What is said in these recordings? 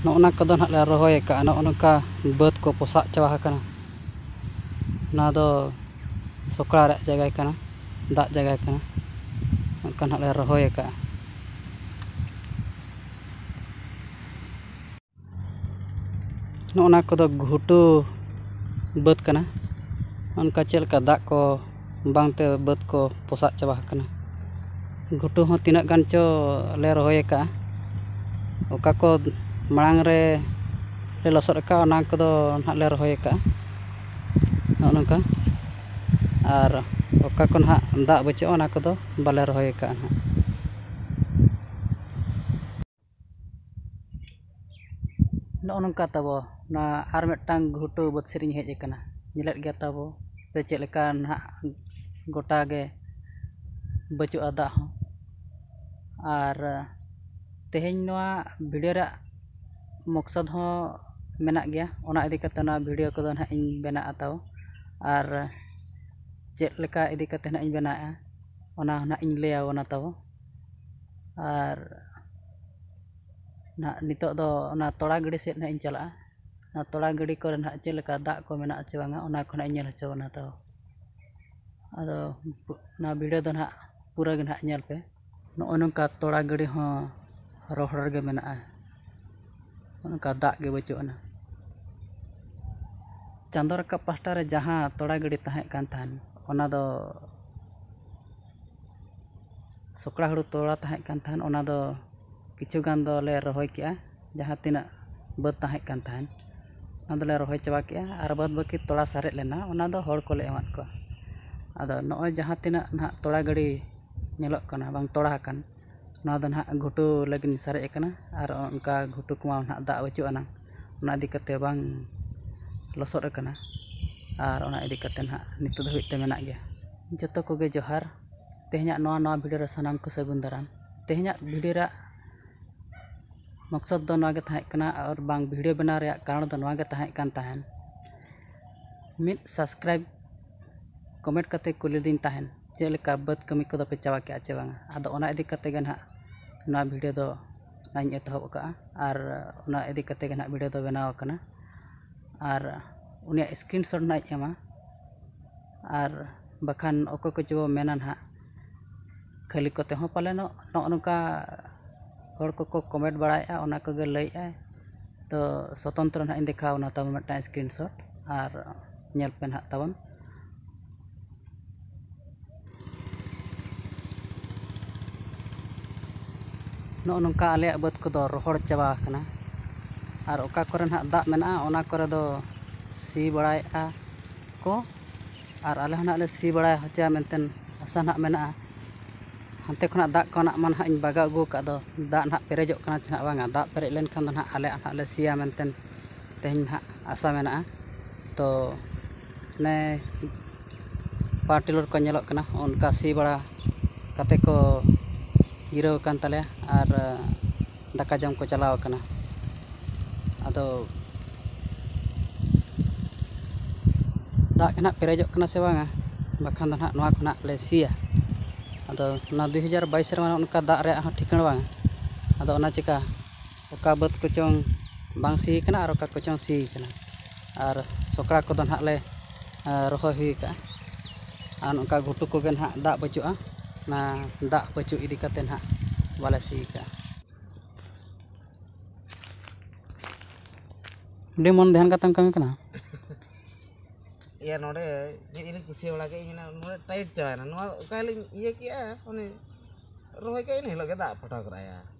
ᱱᱚᱜᱼᱚ ᱱᱟ ᱠᱚᱫᱚ ᱱᱟᱦᱟᱜ ᱞᱮ ᱨᱚᱦᱚᱭ ᱟᱠᱟᱫᱼᱟ ᱱᱚᱜᱼᱚ ᱱᱚᱝᱠᱟ ᱵᱟᱹᱫᱽ ᱠᱚ ᱯᱚᱥᱟᱜ ᱪᱟᱵᱟ ᱟᱠᱟᱱᱟ ᱚᱱᱟ ᱫᱚ ᱥᱚᱠᱲᱟ ᱨᱮᱭᱟᱜ ᱡᱟᱭᱜᱟ ᱠᱟᱱᱟ ᱫᱟᱜ ᱡᱟᱭᱜᱟ ᱠᱟᱱᱟ ᱚᱱᱠᱟ ᱱᱟᱦᱟᱜ ᱞᱮ ᱨᱚᱦᱚᱭ ᱟᱠᱟᱫᱼᱟ ᱱᱚᱜᱼᱚᱸᱭ ᱱᱟ ᱠᱚᱫᱚ ᱜᱷᱩᱴᱩ ᱵᱟᱹᱫᱽ ᱠᱟᱱᱟ ᱚᱱᱠᱟ ᱪᱮᱫ ᱞᱮᱠᱟ ᱫᱟᱜ ᱠᱚ ᱵᱟᱝ ᱛᱮ ᱵᱟᱹᱫᱽ ᱠᱚ ᱯᱚᱥᱟᱜ ᱪᱟᱵᱟ ᱟᱠᱟᱱᱟ ᱜᱷᱩᱴᱩ ᱦᱚᱸ ᱛᱤᱱᱟᱹᱜ ᱜᱟᱱ ᱪᱚ ᱞᱮ ᱨᱚᱦᱚᱭ ᱟᱠᱟᱜᱼᱟ ᱚᱠᱟ ᱠᱚ ᱢᱟᱲᱟᱝ ᱨᱮ ᱞᱮ ᱞᱚᱥᱚᱫ ᱟᱠᱟᱜᱼᱟ ᱚᱱᱟ ᱠᱚᱫᱚ ᱦᱟᱸᱜ ᱞᱮ ᱨᱚᱦᱚᱭ ᱟᱠᱟᱜᱼᱟ ᱱᱚᱜᱼᱚᱸᱭ ᱱᱚᱝᱠᱟ ᱟᱨ ᱚᱠᱟ ᱠᱚ ᱦᱟᱸᱜ ᱫᱟᱜ ᱵᱟᱹᱪᱩᱜᱼᱟ ᱚᱱᱟ ᱠᱚᱫᱚ ᱵᱟᱞᱮ ᱨᱚᱦᱚᱭ ᱟᱠᱟᱜᱼᱟ ᱦᱟᱸᱜ ᱱᱚᱜᱼᱚ ᱱᱚᱝᱠᱟ ᱛᱟᱵᱚ ᱱᱚᱣᱟ ᱟᱨ ᱢᱤᱫᱴᱟᱝ ᱜᱷᱩᱴᱩ ᱵᱟᱹᱫᱽ ᱥᱮᱫ ᱤᱧ ᱦᱮᱡ ᱟᱠᱟᱱᱟ ᱧᱮᱞᱮᱫ ᱜᱮᱭᱟ ᱛᱟᱵᱚ ᱥᱮ ᱪᱮᱫ ᱞᱮᱠᱟ ᱱᱟᱜ ᱜᱚᱴᱟ ᱜᱮ ᱵᱟᱹᱪᱩᱜᱼᱟ ᱫᱟᱜ ᱦᱚᱸ ᱟᱨ ᱛᱮᱦᱮᱧ ᱱᱚᱣᱟ ᱵᱷᱤᱰᱤᱭᱳ ᱨᱮᱭᱟᱜ ᱢᱚᱠᱥᱚᱫᱽ ᱦᱚᱸ ᱢᱮᱱᱟᱜ ᱜᱮᱭᱟ ᱚᱱᱟ ᱤᱫᱤ ᱠᱟᱛᱮᱫ ᱱᱚᱣᱟ ᱵᱷᱤᱰᱤᱭᱳ ᱠᱚᱫᱚ ᱱᱟᱜ ᱤᱧ ᱵᱮᱱᱟᱣ ᱟᱛᱟᱣ ᱟᱨ ᱪᱮᱫ ᱞᱮᱠᱟ ᱤᱫᱤ ᱠᱟᱛᱮᱫ ᱱᱟᱜ ᱤᱧ ᱵᱮᱱᱟᱣᱮᱜᱼᱟ ᱚᱱᱟ ᱦᱚᱸ ᱱᱟᱜ ᱤᱧ ᱞᱟᱹᱭ ᱟᱵᱚᱱᱟ ᱛᱟᱵᱚ ᱟᱨ ᱱᱟᱜ ᱱᱤᱛᱳᱜ ᱫᱚ ᱚᱱᱟ ᱛᱚᱲᱟ ᱜᱤᱰᱤ ᱥᱮᱫ ᱱᱟᱜ ᱤᱧ ᱪᱟᱞᱟᱜᱼᱟ ᱚᱱᱟ ᱛᱚᱲᱟ ᱜᱤᱰᱤ ᱠᱚᱨᱮ ᱱᱟᱜ ᱪᱮᱫ ᱞᱮᱠᱟ ᱫᱟᱜ ᱠᱚ ᱢᱮᱱᱟᱜᱼᱟ ᱪᱮ ᱵᱟᱝᱟ ᱚᱱᱟ ᱠᱚ ᱱᱟᱜ ᱤᱧ ᱧᱮᱞ ᱦᱚᱪᱚ ᱵᱚᱱᱟ ᱛᱚ ᱟᱫᱚ ᱚᱱᱟ ᱵᱷᱤᱰᱤᱭᱳ ᱫᱚ ᱱᱟᱜ ᱯᱩᱨᱟᱹ ᱜᱮ ᱱᱟᱜ ᱧᱮᱞ ᱯᱮ ᱱᱚᱜᱼᱚᱭ ᱱᱚᱝᱠᱟ ᱛᱚᱲᱟ ᱜᱤᱰᱤ ᱦᱚᱸ ᱨᱚᱦᱚᱲ ᱨᱮᱜᱮ ᱢᱮᱱᱟᱜᱼᱟ ᱚᱱᱠᱟ ᱫᱟᱜ ᱜᱮ ᱵᱟᱹᱪᱩᱜ ᱟᱱᱟ ᱪᱟᱸᱫᱚ ᱨᱟᱠᱟᱵ ᱯᱟᱦᱴᱟ ᱨᱮ ᱡᱟᱦᱟᱸ ᱛᱚᱲᱟ ᱜᱤᱰᱤ ᱛᱟᱦᱮᱸ ᱠᱟᱱ ᱛᱟᱦᱮᱱ ᱚᱱᱟ ᱫᱚ ᱥᱚᱠᱲᱟ ᱦᱩᱲᱩ ᱛᱚᱲᱟ ᱛᱟᱦᱮᱸ ᱠᱟᱱ ᱛᱟᱦᱮᱸᱫ ᱚᱱᱟ ᱫᱚ ᱠᱤᱪᱷᱩ ᱜᱟᱱ ᱫᱚᱞᱮ ᱨᱚᱦᱚᱭ ᱠᱮᱜᱼᱟ ᱡᱟᱦᱟᱸ ᱛᱤᱱᱟᱹᱜ ᱵᱟᱹᱫᱽ ᱛᱟᱦᱮᱸ ᱠᱟᱱ ᱛᱟᱦᱮᱸᱫ ᱚᱱᱟ ᱫᱚᱞᱮ ᱨᱚᱦᱚᱭ ᱪᱟᱵᱟ ᱠᱮᱜᱼᱟ ᱟᱨ ᱵᱟᱫ ᱵᱟᱹᱠᱤ ᱛᱚᱲᱟ ᱥᱟᱨᱮᱡ ᱞᱮᱱᱟ ᱚᱱᱟ ᱫᱚ ᱦᱚᱲ ᱠᱚᱞᱮ ᱮᱢᱟᱫ ᱠᱚᱣᱟ ᱟᱫᱚ ᱱᱚᱜᱼᱚᱭ ᱡᱟᱦᱟᱸ ᱛᱤᱱᱟᱹᱜ ᱱᱟᱦᱟᱜ ᱛᱚᱲᱟ ᱜᱟᱹᱰᱤ ᱧᱮᱞᱚᱜ ᱠᱟᱱᱟ ᱵᱟᱝ ᱛᱚᱲᱟ ᱟᱠᱟᱱ ᱱᱚᱣᱟ ᱫᱚ ᱱᱟᱦᱟᱜ ᱜᱷᱩᱴᱩ ᱞᱟᱹᱜᱤᱫ ᱥᱟᱨᱮᱡ ᱠᱟᱱᱟ ᱟᱨ ᱚᱱᱠᱟ ᱜᱷᱩᱴᱩ ᱠᱚᱢᱟ ᱱᱟᱦᱟᱜ ᱫᱟᱜ ᱵᱟᱹᱪᱩᱜ ᱟᱱᱟᱝ ᱚᱱᱟ ᱤᱫᱤ ᱠᱟᱛᱮᱫ ᱵᱟᱝ ᱞᱚᱥᱚᱫ ᱠᱟᱱᱟ ᱟᱨ ᱚᱱᱟ ᱤᱫᱤ ᱠᱟᱛᱮᱫ ᱱᱟᱦᱟᱜ ᱱᱤᱛᱚᱜ ᱫᱷᱟᱹᱵᱤᱡ ᱛᱮ ᱢᱮᱱᱟᱜ ᱜᱮᱭᱟ ᱡᱚᱛᱚ ᱠᱚᱜᱮ ᱡᱚᱦᱟᱨ ᱛᱮᱦᱮᱧᱟᱜ ᱱᱚᱣᱟ ᱱᱟᱣᱟ ᱵᱷᱤᱰᱭᱳ ᱨᱮ ᱥᱟᱱᱟᱢ ᱠᱚ ᱥᱟᱹᱜᱩᱱ ᱫᱟᱨᱟᱢ ᱛᱮᱦᱮᱧᱟᱜ ᱵᱷᱤᱰᱭᱳ ᱨᱮᱭᱟᱜ ᱢᱚᱠᱥᱚᱫᱽ ᱫᱚ ᱱᱚᱣᱟ ᱜᱮ ᱛᱟᱦᱮᱸ ᱠᱟᱱᱟ ᱟᱨ ᱵᱟᱝ ᱵᱷᱤᱰᱭᱳ ᱵᱮᱱᱟᱣ ᱨᱮᱭᱟᱜ ᱠᱟᱨᱚᱱ ᱫᱚ ᱱᱚᱣᱟ ᱜᱮ ᱛᱟᱦᱮᱸ ᱠᱟᱱ ᱛᱟᱦᱮᱱ ᱢᱤᱫ ᱥᱟᱵᱥᱠᱨᱟᱭᱤᱵᱽ ᱠᱚᱢᱮᱱᱴ ᱠᱟᱛᱮ ᱠᱩᱞᱤ ᱞᱤᱫᱤᱧ ᱛᱟᱦᱮᱱ ᱪᱮᱫ ᱞᱮᱠᱟ ᱵᱟᱹᱫᱽ ᱠᱟᱹᱢᱤ ᱠᱚᱫᱚ ᱯᱮ ᱪᱟᱵᱟ ᱠᱮᱜᱼᱟ ᱪᱮ ᱵᱟᱝᱟ ᱟᱫᱚ ᱚᱱᱟ ᱤᱫᱤ ᱠᱟᱛᱮ ᱜᱮ ᱱᱟᱦᱟᱜ ᱱᱚᱣᱟ ᱵᱷᱤᱰᱭᱳ ᱫᱚ ᱱᱟᱧ ᱮᱛᱚᱦᱚᱵ ᱠᱟᱜᱼᱟ ᱟᱨ ᱚᱱᱟ ᱤᱫᱤ ᱠᱟᱛᱮ ᱜᱮ ᱱᱟᱦᱟᱜ ᱵᱷᱤᱰᱭᱳ ᱫᱚ ᱵᱮᱱᱟᱣ ᱠᱟᱱᱟ ᱟᱨ ᱩᱱᱤᱭᱟᱜ ᱥᱠᱨᱤᱱ ᱥᱚᱨᱴ ᱱᱟᱦᱟᱜ ᱤᱧ ᱮᱢᱟ ᱟᱨ ᱵᱟᱠᱷᱟᱱ ᱚᱠᱚᱭ ᱠᱚᱪᱚ ᱵᱚᱱ ᱢᱮᱱᱟ ᱦᱟᱸᱜ ᱠᱷᱟᱹᱞᱤ ᱠᱚᱛᱮ ᱦᱚᱸ ᱯᱟᱞᱮᱱᱚᱜ ᱱᱚᱜᱼᱚ ᱱᱚᱝᱠᱟ ᱦᱚᱲ ᱠᱚᱠᱚ ᱠᱚᱢᱮᱱᱴ ᱵᱟᱲᱟᱭᱮᱫᱼᱟ ᱚᱱᱟ ᱠᱚᱜᱮ ᱞᱟᱹᱭᱮᱫᱼᱟᱭ ᱛᱳ ᱥᱚᱛᱚᱱᱛᱨᱚ ᱦᱟᱸᱜ ᱤᱧ ᱫᱮᱠᱷᱟᱣ ᱟᱢᱟ ᱛᱟᱵᱚᱱ ᱢᱤᱫᱴᱟᱱ ᱥᱠᱨᱤᱱ ᱥᱚᱨᱴ ᱟᱨ ᱧᱮᱞ ᱯᱮ ᱦᱟᱸᱜ ᱛᱟᱵᱚᱱ ᱱᱚᱜᱼᱚ ᱱᱚᱝᱠᱟ ᱟᱞᱮᱭᱟᱜ ᱵᱟᱹᱫᱽ ᱠᱚᱫᱚ ᱨᱚᱦᱚᱲ ᱪᱟᱵᱟ ᱟᱠᱟᱱᱟ ᱟᱨ ᱚᱠᱟ ᱠᱚᱨᱮ ᱦᱟᱸᱜ ᱫᱟᱜ ᱢᱮᱱᱟᱜᱼᱟ ᱚᱱᱟ ᱠᱚᱨᱮ ᱫᱚ ᱥᱤ ᱵᱟᱲᱟᱭᱮᱫᱼᱟ ᱠᱚ ᱟᱨ ᱟᱞᱮ ᱦᱚᱸ ᱱᱟᱦᱟᱜ ᱞᱮ ᱥᱤ ᱵᱟᱲᱟ ᱦᱚᱪᱚᱭᱟ ᱢᱮᱱᱛᱮ ᱟᱥᱟ ᱱᱟᱦᱟᱜ ᱢᱮᱱᱟᱜᱼᱟ ᱦᱟᱱᱛᱮ ᱠᱷᱚᱱᱟᱜ ᱫᱟᱜ ᱠᱚ ᱱᱟᱦᱟᱜ ᱢᱟ ᱱᱟᱦᱟᱜ ᱤᱧ ᱵᱟᱜᱟᱣ ᱟᱹᱜᱩ ᱟᱠᱟᱫ ᱫᱚ ᱫᱟᱜ ᱱᱟᱦᱟᱜ ᱯᱮᱨᱮᱡᱚᱜ ᱠᱟᱱᱟ ᱪᱮ ᱱᱟᱦᱟᱜ ᱵᱟᱝᱟ ᱫᱟᱜ ᱯᱮᱨᱮᱡ ᱞᱮᱱᱠᱷᱟᱱ ᱫᱚ ᱱᱟᱦᱟᱜ ᱟᱞᱮ ᱱᱟᱦᱟᱜ ᱞᱮ ᱥᱤᱭᱟ ᱢᱮᱱᱛᱮ ᱛᱮᱦᱮᱧ ᱱᱟᱦᱟᱜ ᱟᱥᱟ ᱢᱮᱱᱟᱜᱼᱟ ᱛᱚ ᱚᱱᱮ ᱯᱟᱣᱟᱨ ᱴᱤᱞᱟᱨ ᱠᱚ ᱧᱮᱞᱚᱜ ᱠᱟᱱᱟ ᱚᱱᱠᱟ ᱥᱤ ᱵᱟᱲᱟ ᱠᱟᱛᱮᱫ ᱠᱚ ᱡᱤᱨᱟᱹᱣ ᱟᱠᱟᱱ ᱛᱟᱞᱮᱭᱟ ᱟᱨ ᱫᱟᱠᱟ ᱡᱚᱢ ᱠᱚ ᱪᱟᱞᱟᱣ ᱟᱠᱟᱱᱟ ᱟᱫᱚ ᱫᱟᱜ ᱜᱮ ᱱᱟᱦᱟᱜ ᱯᱮᱨᱮᱡᱚᱜ ᱠᱟᱱᱟ ᱥᱮ ᱵᱟᱝᱟ ᱵᱟᱠᱷᱟᱱ ᱫᱚ ᱱᱟᱦᱟᱜ ᱱᱚᱣᱟ ᱠᱷᱚᱱᱟᱜ ᱞᱮ ᱥᱤᱭᱟ ᱟᱫᱚ ᱚᱱᱟ ᱫᱩ ᱦᱟᱡᱟᱨ ᱵᱟᱭᱤᱥ ᱨᱮᱢᱟ ᱚᱱᱠᱟ ᱫᱟᱜ ᱨᱮᱭᱟᱜ ᱦᱚᱸ ᱴᱷᱤᱠᱟᱹᱬ ᱵᱟᱝᱟ ᱟᱫᱚ ᱚᱱᱟ ᱪᱤᱠᱟᱹ ᱚᱠᱟ ᱵᱟᱹᱫᱽ ᱠᱚᱪᱚᱝ ᱵᱟᱝ ᱥᱤ ᱠᱟᱱᱟ ᱟᱨ ᱚᱠᱟ ᱠᱚᱪᱚᱝ ᱥᱤ ᱠᱟᱱᱟ ᱟᱨ ᱥᱚᱠᱲᱟ ᱠᱚᱫᱚ ᱱᱟᱦᱟᱜ ᱞᱮ ᱨᱚᱦᱚᱭ ᱦᱩᱭ ᱠᱟᱜᱼᱟ ᱟᱨ ᱱᱚᱝᱠᱟ ᱜᱷᱩᱴᱩ ᱠᱚᱜᱮ ᱱᱟᱦᱟᱜ ᱫᱟᱜ ᱵᱟᱹᱪᱩᱜᱼᱟ ᱚᱱᱟ ᱫᱟᱜ ᱵᱟᱹᱪᱩᱜ ᱤᱫᱤ ᱠᱟᱛᱮ ᱱᱟᱦᱟᱜ ᱵᱟᱞᱮ ᱥᱤ ᱠᱟᱜᱼᱟ ᱟᱹᱰᱤ ᱢᱚᱱ ᱫᱷᱮᱭᱟᱱ ᱠᱟᱛᱮᱢ ᱠᱟᱹᱢᱤ ᱠᱟᱱᱟ ᱤᱭᱟᱹ ᱱᱚᱰᱮ ᱢᱤᱫ ᱫᱤᱱᱤᱧ ᱠᱩᱥᱤ ᱵᱟᱲᱟ ᱠᱮᱫ ᱤᱧ ᱱᱚᱰᱮ ᱴᱟᱭᱤᱴ ᱪᱟᱵᱟᱭᱮᱱᱟ ᱱᱚᱣᱟ ᱚᱠᱟ ᱦᱤᱞᱳᱜ ᱤᱧ ᱤᱭᱟᱹ ᱠᱮᱜᱼᱟ ᱚᱱᱮ ᱨᱚᱦᱚᱭ ᱠᱮᱜᱼᱟ ᱤᱱᱟᱹ ᱦᱤᱞᱳᱜ ᱜᱮ ᱫᱟᱜ ᱯᱚᱴᱟᱣ ᱠᱮᱫᱟᱭ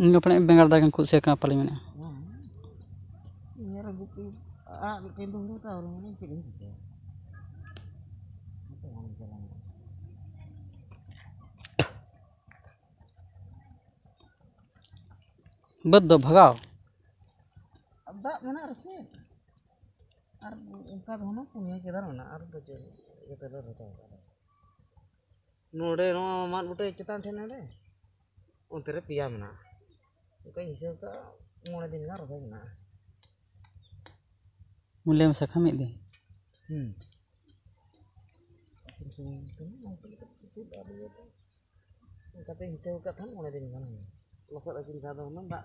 ᱤᱧ ᱫᱚ ᱯᱟᱞᱮᱫ ᱵᱮᱸᱜᱟᱲ ᱫᱟᱨᱮ ᱜᱮᱧ ᱠᱩᱥᱤᱭᱟᱜ ᱠᱟᱱᱟ ᱯᱟᱞᱮ ᱢᱮᱱᱟᱜᱼᱟ ᱵᱟᱹᱫᱽ ᱫᱚ ᱵᱷᱟᱜᱟᱣ ᱫᱟᱜ ᱢᱮᱱᱟᱜ ᱨᱮᱥᱮ ᱟᱨ ᱚᱱᱠᱟ ᱫᱚ ᱦᱩᱱᱟᱹᱝ ᱯᱩᱱᱭᱟᱹ ᱠᱮᱫᱟᱨ ᱢᱮᱱᱟᱜᱼᱟ ᱟᱨ ᱫᱚ ᱪᱮᱫ ᱤᱭᱟᱹ ᱛᱮᱫᱚ ᱵᱟᱹᱱᱩᱜᱼᱟ ᱱᱚᱰᱮ ᱱᱚᱣᱟ ᱢᱟᱫ ᱵᱩᱴᱟᱹ ᱪᱮᱛᱟᱱ ᱴᱷᱮᱱ ᱱᱚᱰᱮ ᱚᱱᱛᱮ ᱨᱮ ᱯᱮᱭᱟ ᱢᱮᱱᱟᱜᱼᱟ ᱚᱱᱠᱟᱧ ᱦᱤᱥᱟᱹᱵᱽ ᱠᱟᱜᱼᱟ ᱢᱚᱬᱮ ᱫᱤᱱ ᱜᱟᱱ ᱨᱚᱦᱚᱭ ᱢᱮᱱᱟᱜᱼᱟ ᱢᱩᱞᱟᱹ ᱢᱮᱥᱟ ᱠᱷᱟᱱ ᱢᱤᱫ ᱫᱤᱱ ᱦᱮᱸ ᱚᱱᱠᱟᱛᱮ ᱦᱤᱥᱟᱹᱵᱽ ᱠᱟᱜ ᱠᱷᱟᱱ ᱢᱚᱬᱮ ᱫᱤᱱ ᱜᱟᱱ ᱦᱩᱭᱩᱜᱼᱟ ᱞᱚᱥᱚᱫ ᱟᱹᱪᱩᱨ ᱞᱮᱠᱷᱟᱱ ᱫᱚ ᱦᱩᱱᱟᱹᱝ ᱫᱟᱜ